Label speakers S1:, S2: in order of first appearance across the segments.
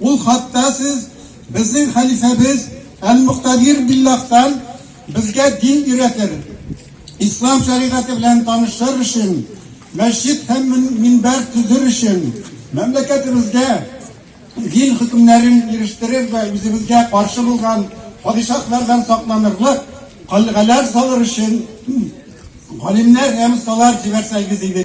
S1: Ул хатта сез безнең хәлифәбез Әл-Мөхтәдир Биллахтан безгә дин өйрәтер, ислам шәригате белән танышыр өчен, мәчет һәм минбәр төзер өчен, мәмләкәтебезгә дин хөкемнәрен ирештерер вә үзебезгә каршы булган падишаһлардан сакланырлык калгалар салыр өчен галимнәр һәм осталар җибәрсәгез иде.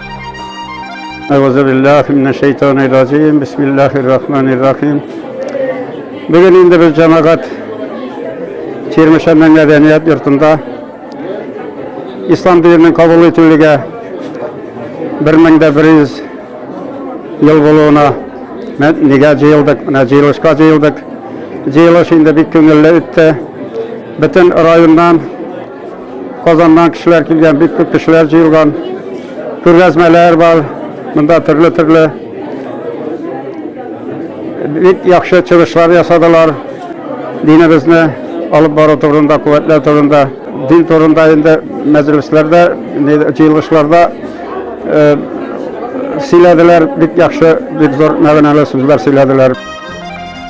S1: Әгъүзу биллаһи минәш шәйтанир раҗим. Бисмиллаһир рахманир рахим. Бүген инде без җәмәгать Чирмешәннән мәдәният йортында ислам диненең кабул ителүгә 1100 ел булуына нигә җыелдык, менә җыелышка җыелдык. Җыелыш инде бик күңелле үтте. Бөтен районнан Казаннан кешеләр килгән, бик күп кешеләр җыелган. Күргәзмәләр бар, монда төрле-төрле бик яхшы чыгышлар ясадылар. Динебезне алып бару турында, куәтләү турында, дин турында инде мәҗлесләрдә, җыелышларда э, сөйләделәр, бик яхшы, бик зур мәгънәле сүзләр сөйләделәр.